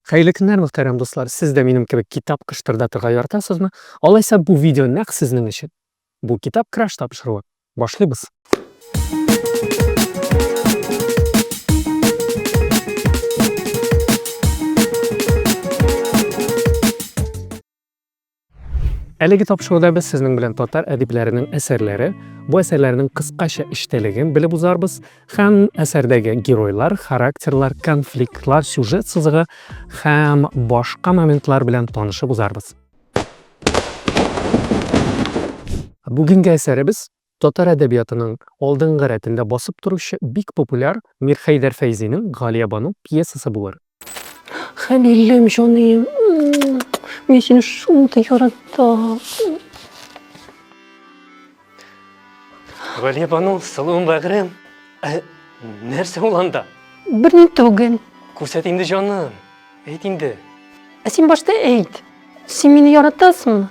Хәерле көннәр, мөхтәрәм дуслар. Сез дә минем кебек китап кыштырдатырга яратасызмы? Алайса бу видео нәкъ сезнең өчен. Бу китап краш тапшыруы. Башлыйбыз. Әлеге тапшыруда без сезнең белән татар әдипләренең әсәрләре, бу әсәрләрнең кыскача эчтәлеген белеп узарбыз һәм әсәрдәге геройлар, характерлар, конфликтлар, сюжет сызыгы һәм башка моментлар белән танышып узарбыз. Бүгенге әсәребез Татар әдәбиятының алдынгы рәтендә басып торучы бик популяр Мирхәйдәр Фәйзинең Галиябану пьесасы булыр. Хәлилем, җаныем, мин сине шундый яратам. Галиябану, сылуым, бәгырем. Ә нәрсә ул анда? Берни түгел. Күрсәт инде, җаным, әйт инде. Ә син башта әйт, син мине яратасыңмы?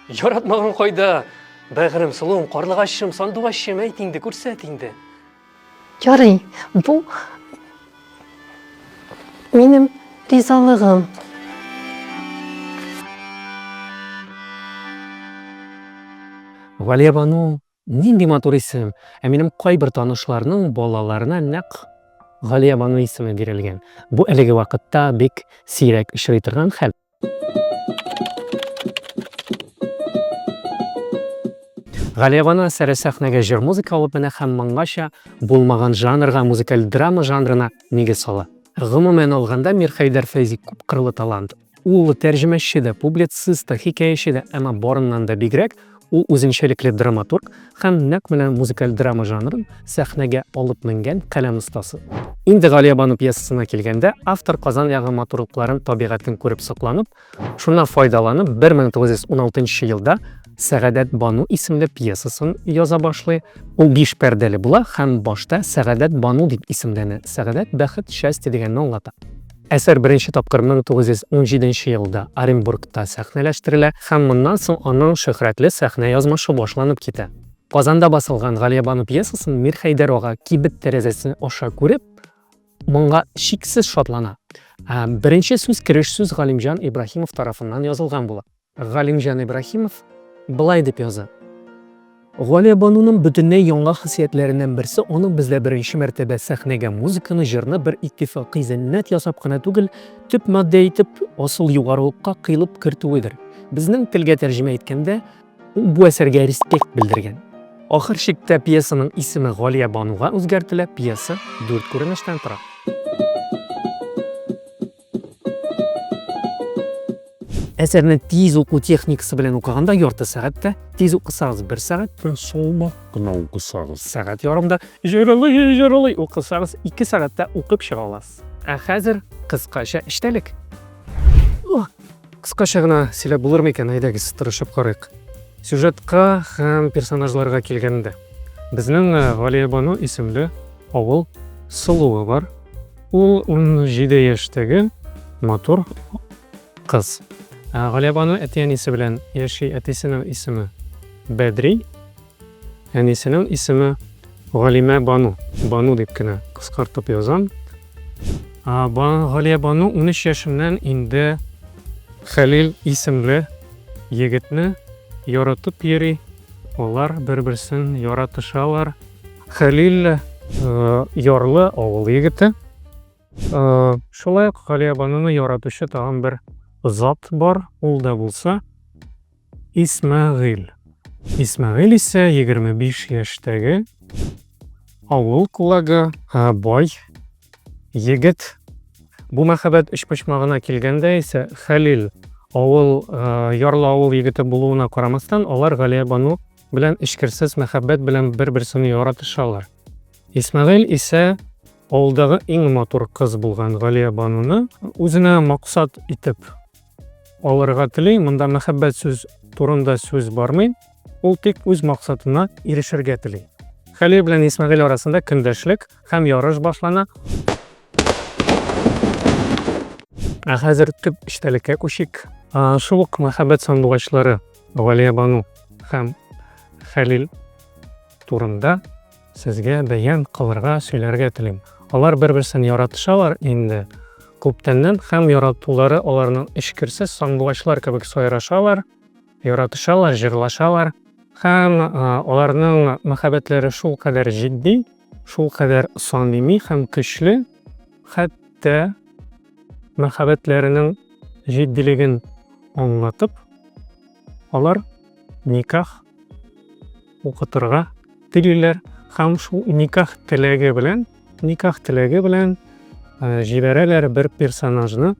Яратмаган кайда? Бәгырем, сылуым, карлыгачым, сандугачым, әйт инде, күрсәт инде. Ярый, бу минем ризалыгым. Валиябану Нинди матур исем! Ә минем кайбер танышларның балаларына нәкъ Галиябану исеме бирелгән. Бу әлеге вакытта бик сирәк очрый торган хәл. Галиябану әсәре сәхнәгә җыр-музыка алып менә һәм моңгача булмаган жанрга, музыкаль драма жанрына нигез сала. Гомумән алганда, Мирхәйдәр Фәйзи күпкырлы талант. Ул тәрҗемәче дә, публицист та, хикәяче дә, әмма барыннан да бигрәк, ул үзенчәлекле драматург һәм нәкъ менә музыкаль драма жанрын сәхнәгә алып менгән каләм остасы. Инде Галиябану пьесасына килгәндә, автор Казан ягы матурлыкларын, табигатен күреп сокланып, шуннан файдаланып, 1916 елда Сәгадәт бану исемле пьесасын яза башлый. Ул биш пәрдәле була һәм башта Сәгадәт бану дип исемләнә, сәгадәт, бәхет, счастье дигәнне аңлата. Әсәр беренче тапкыр 1917 нче елда Оренбургта сәхнәләштерелә һәм моннан соң аның шөһрәтле сәхнә язмышы башланып китә. Казанда басылган Галиябану пьесасын Мирхәйдәр ага кибет тәрәзәсе аша күреп, моңа чиксез шатлана. Беренче сүз кереш сүз Галимҗан Ибраһимов тарафыннан язылган була. Галимҗан Ибраһимов болай дип яза, Галиябануның бөтенләй яңа хасиятләреннән берсе аның бездә беренче мәртәбә сәхнәгә музыканы, җырны бер иттифакый зәннәт ясап кына түгел, төп матдә итеп, асыл югарылыкка кыйлып кертүедер. Безнең телгә тәрҗемә иткәндә, ул бу әсәргә респект белдергән. Ахыр чиктә пьесаның исеме Галиябануга үзгәртелә, пьеса дүрт күренештән тора. әсәрне тиз уку техникасы белән укыганда ярты сәгатьтә тиз укысагыз бер сәгатьтә салмак кына укысагыз сәгать ярымда җырылый җырылый укысагыз ике сәгатьтә укып чыга аласыз ә хәзер кыскача эчтәлек Кыскача гына сөйләп булырмы икән, әйдәгез, тырышып карыйк. Сюжетка һәм персонажларга килгәндә, безнең э, Галиябану исемле авыл сылуы бар. Ул 17 яшьтәге матур кыз. Галиябану әти-әнисе белән яши, әтисенең исеме Бәдри, Әнисенең исеме Галимә Бану. Бану дип кенә кыскартып язам. Галия Бану 13 яшеннән инде Хәлил исемле егетне яратып йөри. Алар бер-берсен яратышалар. Хәлил ярлы авыл егете. Шулай ук Галиябануны яратучы тагын бер зат бар, ул да булса Исмәгыйль. Исмәгыйль исә егерме биш яшьтәге авыл кулагы, бай егет. Бу мәхәббәт өчпочмагына килгәндә исә Хәлил авыл ярлы авыл егете булуына карамастан, алар Галия бану белән эчкерсез мәхәббәт белән бер-берсен яратышалар. Исмәгыйль исә авылдагы иң матур кыз булган Галия бануны үзенә максат итеп Алырга телим, монда мәхәббәт сүз турында сүз бармый, ул тик үз максатына ирешергә тели. Хәлил белән Исмәгыйль арасында көндәшлек һәм ярыш башлана. Ә хәзер төп эчтәлеккә күчик. Шул ук мәхәббәт сандугачлары Галия Бану һәм Хәлил турында Сезгә бәян кылырга, сөйләргә телим. Алар бер-берсен яратышалар инде күптәннән һәм яратулары аларның эчкерсез сандугачлар кебек сайрашалар, яратышалар, җырлашалар һәм аларның мәхәббәтләре шул кадәр җитди, шул кадәр самими һәм көчле, хәтта мәхәббәтләренең җитдилеген аңлатып, Алар никах укытырга телиләр һәм шул никах теләге белән, никах теләге белән э, җибәрәләр бер персонажны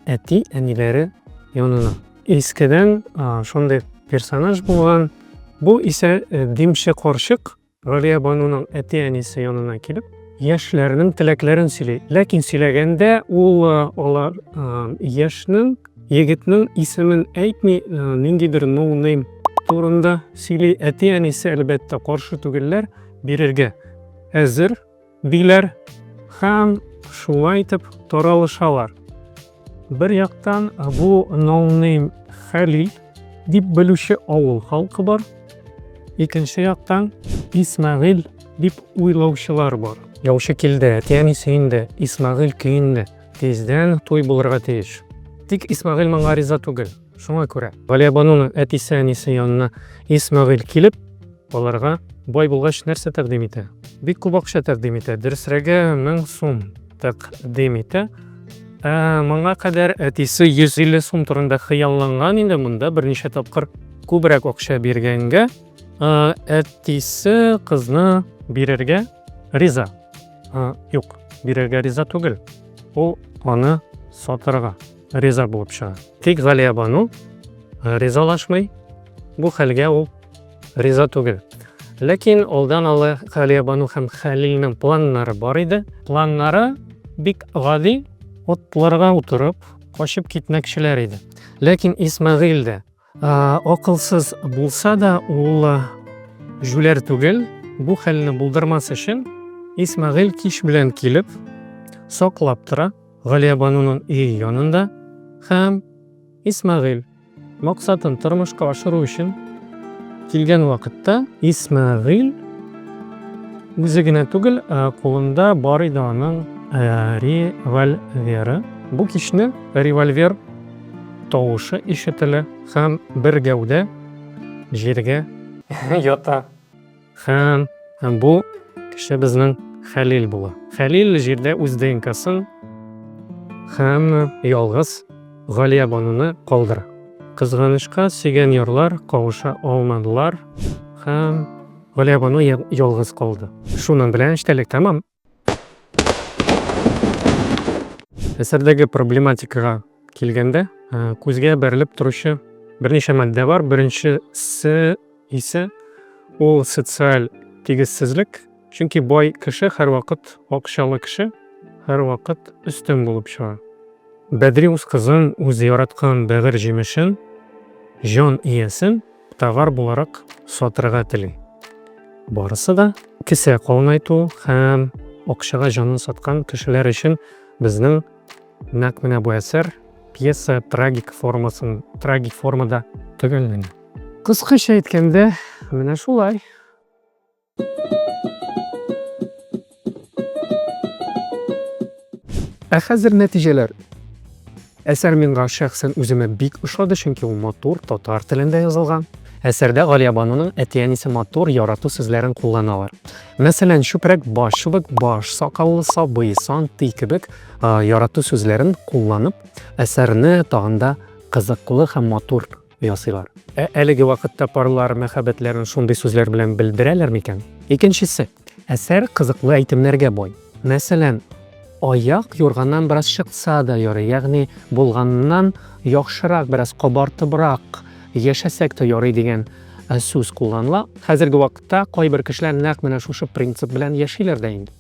әти әниләре янына. Искедән э, шундый персонаж булган. Бу исә э, димче карчык Галиябануның әти-әнисе янына килеп, яшьләрнең теләкләрен сөйли. Ләкин сөйләгәндә ул алар яшьнең, егетнең исемен әйтми, ниндидер ноунейм турында сөйли. Әти-әнисе, әлбәттә, каршы түгелләр, бирергә әзер. Диләр һәм шулай итеп таралышалар. Бер яктан бу ноунейм Хәлил дип белүче авыл халкы бар, икенче яктан Исмәгыйль дип уйлаучылар бар. Яучы килде, әти-әни сөенде, Исмәгыйль көенде, тиздән туй булырга тиеш. Тик Исмәгыйль моңа риза түгел, шуңа күрә. Галиябануның әтисе-әнисе янына Исмәгыйль килеп, Аларга бай булгач нәрсә тәкъдим итә? Бик күп акча тәкъдим итә, дөресрәге 1000 сум тәкъдим итә. Ә моңа кадәр әтисе 150 сум турында хыялланган инде, монда берничә тапкыр күбрәк акча биргәнгә, әтисе кызны бирергә риза. Юк, бирергә риза түгел. Ул аны сатырга риза булып чыга. Тик Галиябану э, ризалашмый, бу хәлгә ул риза түгел. Ләкин алдан алы Галиябану һәм Хәлилнең планнары бар иде. Планнары бик гади, отларга утырып, качып китмәкчеләр иде. Ләкин Исмәгыйль дә Акылсыз булса да, ул җүләр түгел. Бу хәлне булдырмас өчен Исмәгыйль кич белән килеп, саклап тора Галиябануның өе янында һәм Исмәгыйль максатын тормышка ашыру өчен килгән вакытта Исмәгыйль үзе генә түгел, кулында бар иде аның револьверы. Бу кичне револьвер Тавышы ишетелә. Һәм бер гәүдә җиргә ята. Һәм бу кеше безнең Хәлил була. Хәлил җирдә үз ДНКсын һәм ялгыз Галиябануны калдыра. Кызганычка, сөйгән ярлар кавыша алмадылар һәм Галиябану ялгыз калды. Шуның белән эчтәлек тәмам. Әсәрдәге проблематикага килгәндә, э, күзгә бәрелеп торучы берничә матдә бар. Беренчесе исә ул социаль тигезсезлек, чөнки бай кеше һәрвакыт акчалы кеше, һәрвакыт өстен булып чыга. Бәдри үз кызын, үзе яраткан бәгырь җимешен, җан иясен товар буларак сатырга тели. Барысы да кесә калынайту һәм акчага җанын саткан кешеләр өчен безнең нәкъ менә бу әсәр пьеса трагик формасын трагик формада төгәлләнә. Кыскача әйткәндә, менә шулай. Ә хәзер нәтиҗәләр. Әсәр миңа шәхсән үземә бик ошады, чөнки ул матур, татар телендә язылган. Әсәрдә Галиябануның әти-әнисе матур ярату сүзләрен кулланалар. Мәсәлән, чүпрәк, баш чыбык, баш сакаллы, сабый, сан, ти кебек ярату сүзләрен кулланып, әсәрне тагын да кызыклы һәм матур ясыйлар. Ә әлеге вакытта парлар мәхәббәтләрен шундый сүзләр белән белдерәләр микән? Икенчесе. Әсәр кызыклы әйтемнәргә бай. Мәсәлән, аяк юрганнан бераз чыкса да ярый, ягъни булганнан яхшырак, бераз кабартыбрак яшәсәк тә ярый дигән сүз кулланыла. Хәзерге вакытта кайбер кешеләр нәкъ менә шушы принцип белән яшиләр дә инде.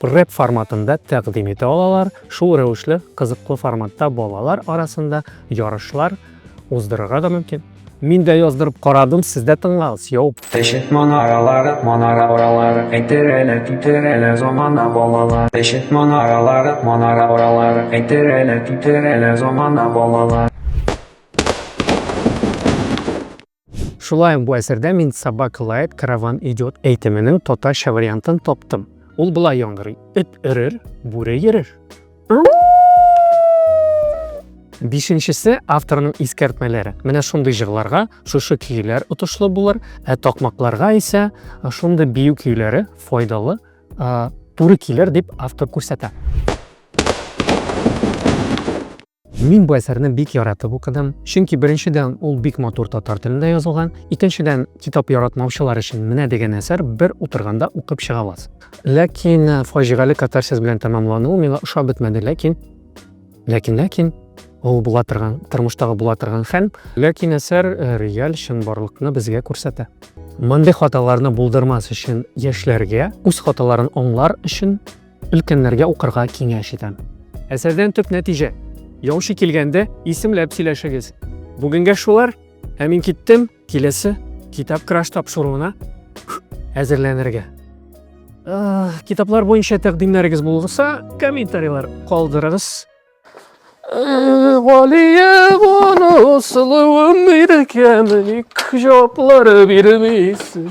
Рэп форматында тәкъдим итә алалар, шул рәвешле кызыклы форматта балалар арасында ярышлар уздырырга да мөмкин. Мин дә яздырып карадым, сез дә тыңлагыз, йоу. Тешек манаралары, манара оралары, әйтер әле, түтер әле, замана балалар. Тешек манаралары, манара оралары, әйтер әле, түтер әле, замана балалар. Шулай ук бу әсәрдә мин Собака лает, караван идет әйтеменең татарча вариантын таптым. Ул болай яңгырый, Эт өрер, бүре йөрер. Бишенчесе авторның искәртмәләре. Менә шундый җырларга шушы көйләр отышлы булыр, ә такмакларга исә шундый бию көйләре файдалы туры килер дип автор күрсәтә. Мин бу әсәрне бик яратып укыдым, чөнки беренчедән ул бик матур татар телендә язылган, икенчедән китап яратмаучылар өчен менә дигән әсәр бер утырганда укып чыга аласың. Ләкин э, фаҗигале катарсис белән тәмамлануы миңа ошап бетмәде, ләкин ләкин ләкин ул була торган тормыштагы була торган хәл ләкин әсәр э, реаль чынбарлыкны безгә күрсәтә мондый хаталарны булдырмас өчен яшьләргә үз хаталарын аңлар өчен Өлкәннәргә укырга киңәш итәм. Әсәрдән төп нәтиҗә. Яучы килгәндә исемләп сөйләшегез. Бүгенгә шулар, ә мин киттем, киләсе китап краш тапшыруына әзерләнергә. Китаплар буенча тәкъдимнәрегез булса, комментарийлар калдырыгыз. Галиев аны сылуым иркәм, ник җаваплар бирмисең?